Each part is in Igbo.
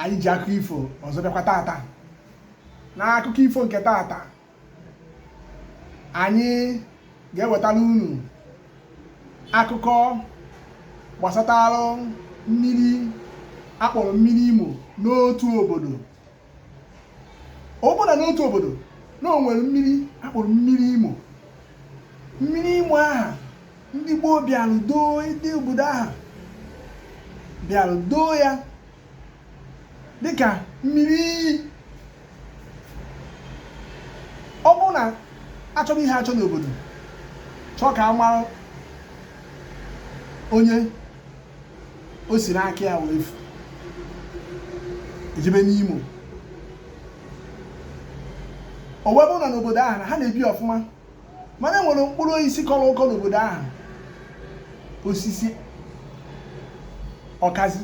anyị ji akụkọ ifo ọzọ bịakwa tata n'akụkọ ifo nke tata anyị ga-ewetara unu akụkọ gbasatara mmiri a kpọrọ mmiri imo n'otu obodo ọ bụrụ na n'otu obodo na o nwere mmiri a kpọrọ mmiri imo mmiri imo aha ndị gboo bịara doo ndị obodo aha bịara doo ya dịka mmiri iyi ọ bụrụ na a chọrọ ihe achọ n'obodo chọọ ka a mara onye o si n'aka ya wee efu e jebe n'imo o wee bụrụ na n'obodo ahụ na ha na-ebi ọfụma mana e nwere mkpụrụ osisi kọrọ ụkọ n'obodo ahụ osisi ọkazi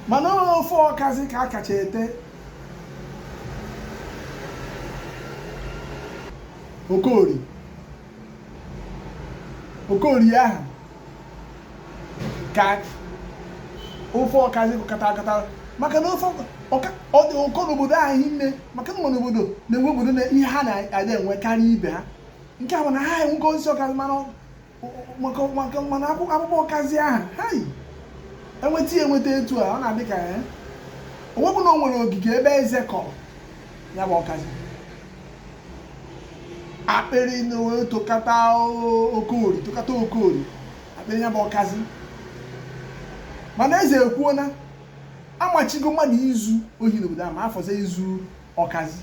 mana ofe ọkazi ka a kacha ete okori okori ahụ ka ofe ọkazi kata akata maka na ofe ọ dị ụkọ n'obodo a hinne maka na n'obodo na-enwe obodo na ihe ha na-adị enwe karịa ibe ha nke a bụ na ha enwego osisi ọkazi mana maka mana akwụkwọ ọkazi ahụ ha yi enweta ya enweta etu a ọ na-adị ka eh, o wee bụrụ na o nwere ogige ebe eze kọrọ ya bụ ọkazi akpịrị wee tokata okori tokata okori akpịrị ya bụ ọkazi mana eze ekwuo na amachigo mmadụ izu ohi n'obodo ahụ ma ya fọzie izu ọkazi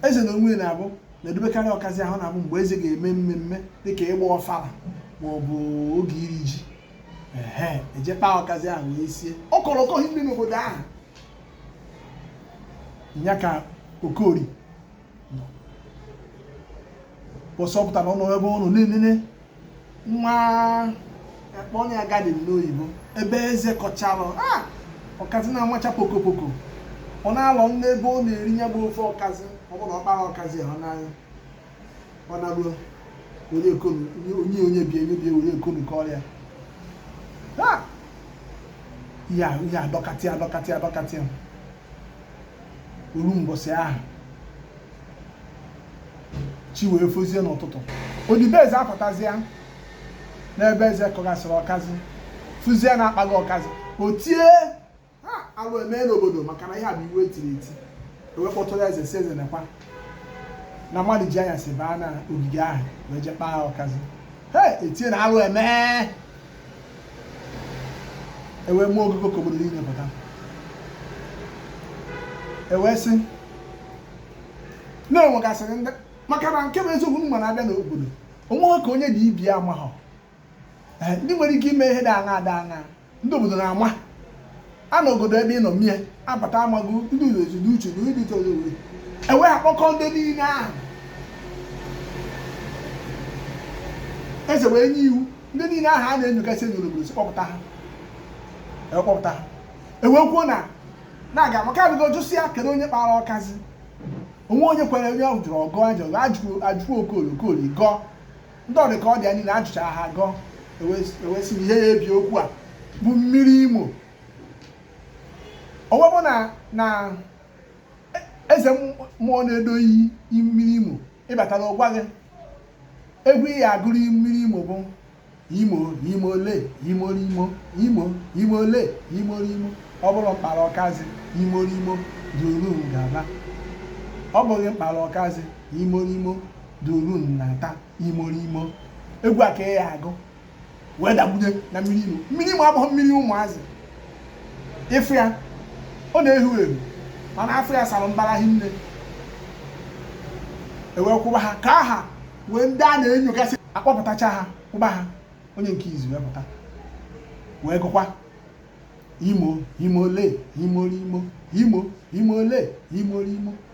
eze n'onwe ya na-abụ na-edobekarị ọkazi ahụ na-abụ mgbe eze ga-eme mmemme dịka ịgba ọfala ma ọ bụ oge iri ji e je kpaa ọkazi ahụ wee sie ọ kọrọ ụkọ hinne n'obodo ahụ ya ka okori bọsọpụtara ọnụ ebe ọ nọ na-enene nwa a kpọ ya garden n'oyibo ebe eze kọchalụ ah! ọkazi na-amacha pokopoko ọ na-alọ nne ebe ọ na-eri ya bụ ofe ọkazi ọ bụrụ na ọ kpara ọkazi ahụ naa ọ naruo onye konu onye onye bie onye bie onye konu ka ọrịa ha ihe a- ihe adọkatị adọkatị adọkatị o ruo mbọsị ahụ chi wee fozie n'ụtụtụ odibo eze apụtazịa n'ebe eze kọgasịrị ọkazị fụzie na a kpago ọkazị o tie alụ eme n'obodo maka na ihe a bụ iwu e tiri eti ewe kpọtụrụ eze sị eze nekwa na mmadụ ji anyasị baa na ogige ahụ wee je kpaa ọkazi he etie na alụ eme ewe mụọ ogogo ka obodo niile pụta ewe sị na e nwegasịrị ndị maka na nke bụ eziokwu mma na-abịa n'obodo o nweghị ka onye dị ibe ya amaghọ Eh, ndị nwere ike ime ihe dị aṅaa dị aṅaa ndị obodo na-ama a na obodo ebe ị nọ mie abata amaghị ndị ụlọ ezi n'uche na ndị toro uri ewe kpọkọ ndị niile ahụ eze wee nye iwu ndị niile ahụ a na-enyogasị enyo n'obodo si kpọpụta ha e kpọpụta ha ewee kwuo na na-aga maka abụgo jụsịa kedu onye kpara ọkazi o nweghị onye kwere onye a jụrụ ọ gọọ ajụrụ ajụrụ okori okori gọọ ndị ọdị ka ọ dị ya niile ajụcha ha gọọ ewe sị na ihe ya-ebi okwu a bụ mmiri imo ọ wee bụ na na e, eze mmụọ na-edo iyi mmiri imo ị batara ọ gwa gị egwu ị ya-agụrụ mmiri imo bụ imo imo le imo imo imo imo le imo imo ọ bụrụ m kpara ọkazi imo imo duru m gaba ọ bụghị m kpara ọkazi imo imo duru m nata imo imo egwu a ka ị ya-agụ wee dakpunye na mmiri imo mmiri imo abụghị mmiri ụmụazị ị fụ ya ọ na-ehu ehu mana afọ ya sara mbara hinne ewee kwụba ha ka ha ha wee ndị a na-enyogasị akpọpụtacha ha kwụba ha onye nke izi wee pụta wee gụkwa imo imo le imo imo imo imo le imo imo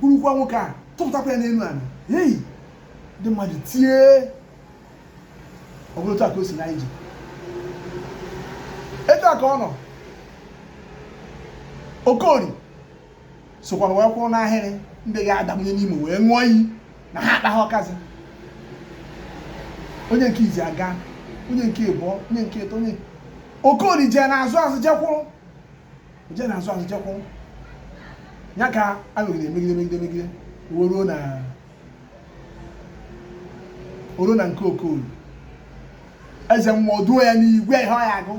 burukwa nwoke a tụpụtakwa ya n'elu ala hei ndị mmadụ tie ọ bụrụ otu a ka o si na-eje etu a ka ọ nọ okori sokwara wee kwụrụ n'ahịrị ndị ga-adabanye n'ime wee ṅụọ iyi na ha akpaghị ọkazi onye nke izi aga onye nke ịbụọ onye nke ịtọ onye okori jee n'azụ azụ je kwụrụ je n'azụ azụ je kwụ ya ka e megide megide megide megide ruo na o ruo na nke okori eze mmụọ duo ya n'iyi gwa ya ihe ọ ya-agụ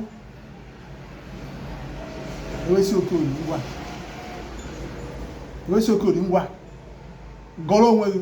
ewe sị okori ngwa ewe sị okori ngwa gọrọ onwe gị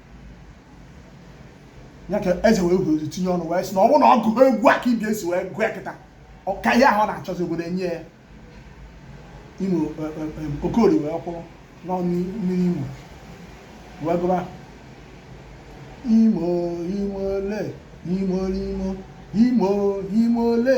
ya ka eze wee kwuo tinye ọnụ wee sị na ọ bụrụ na ọ gụọ egwu a ka ibe ya si wee gụọ kịta ka ihe ahụ ọ na-achọzi obodo enye ya imo e, e, e, okori wee kwụrụ n'ọnụ mmiri imo wee gụba imo imo le imo imo imo imo le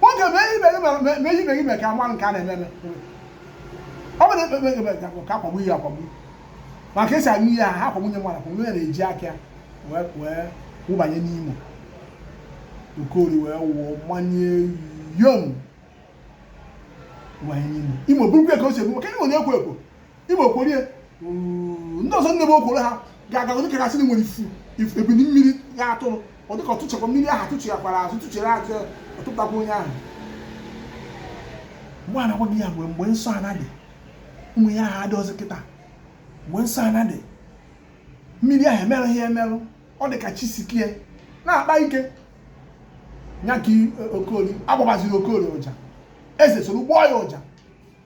nwoke mee ihe ibe gị mere ka mmanụ nke a na-eme eme ọ bụrụ ekpe ka akwagbu ihe akwagbu maka esi aṅụ ihe a ha akwagbu nye mmadụ akwagbu onye na-eji aka ya wee wụbanye n'imo okori wee wụọ mmanye yom wụbanye n'imo imo burukwa ka o si ebu maka na imo na-ekwo ekwo imo kworo ndị ọzọ nne m o kworo ha ga-aga onye kachasị na nwere ifu ebili mmiri ya atụrụ ọ dịka ọtụchekwa mmiri ahụ atụchighakwara azụ tụchere azụ ọtụtakwa onye ahụ mgbe a na-agwa gị ya mgbe mgbe nsọ ana dị ụmụ ihe ahụ adịrọzi kịta mgbe nsọ ana dị mmiri ahụ emerụ ihe emerụ ọ dị ka chi sikie na-akpa ike nya ka e, okori agbabaziri okori ụja eze soro gbọọ ya ụja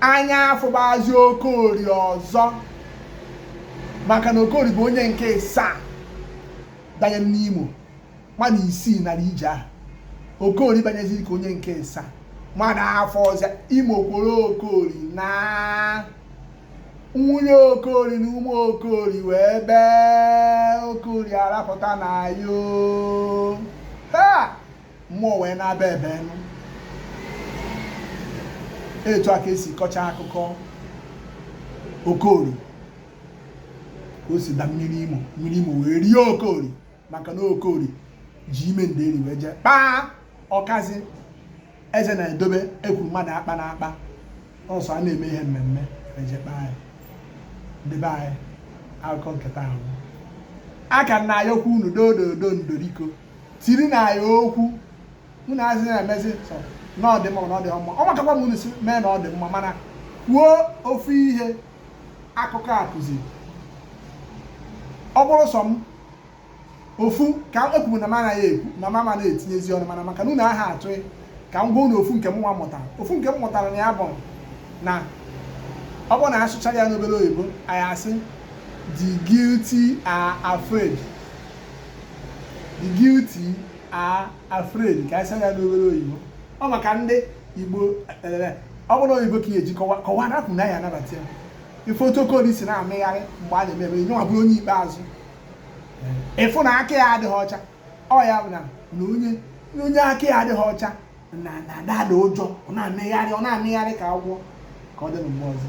anya afụbazi okori ọzọ maka na okori bụ onye nke ịsaa banye n'imo mmadụ isii nara ije ahụ okori banyeziri ka onye nke ịsaa mmadụ afụrọzi ya imo kworo okori na nwunye okori na ụmụ okori wee bee okori arapụta na yo ha mmụọ wee na-aba ebe nụ etu a ka e si kọchaa akụkọ okori ka o si da mmiri imo mmiri imo wee rie okori maka na okori ji ime nderi wee jee kpaa ọkazi eze na-edobe e kwuru mmadụ akpana akpa ọ sọ a na-eme ihe mmemme e jee kpaa ya ndị be anyị akụkọ nke taa ahụ aka na ya ọkwa unu dododo ndoriko tiri na ya okwu unu azị na-emezi na ọ dị mma na ọ dị mma ọ makakwa m unu si mee na ọ dị mma mana kwuo ofu ihe akụkọ a kụziri ọ bụrụ sọ m ofu ka ekwuru na m anaghị ekwu na mama na-etinyezi ọnụ mana maka na unu aha atụ ka m gwa unu ofu nke m nwa mụtara ofu nke m mụtara na ya bụ na ọ bụrụ na a sụchaa ya n'obere oyibo anyị asị the guilty are afraid the guilty are afraid ka a sị ya n'obere oyibo ọ maka ndị igbo eh, ọ bụrụ oyibo ka eji kọwa rapụ na ya anabata ya ị fụ otu okoli si na-amịgharị mgbe a na-eme eme nya nwa bụrụ onye ikpeazụ ị fụ na aka ya adịghị ọcha ọ ya bụ na onye aka ya adịghị ọcha na-adị atụ ụjọ ọ na-amịgharị ka agwọ ka ọ dị na mgbe ọzọ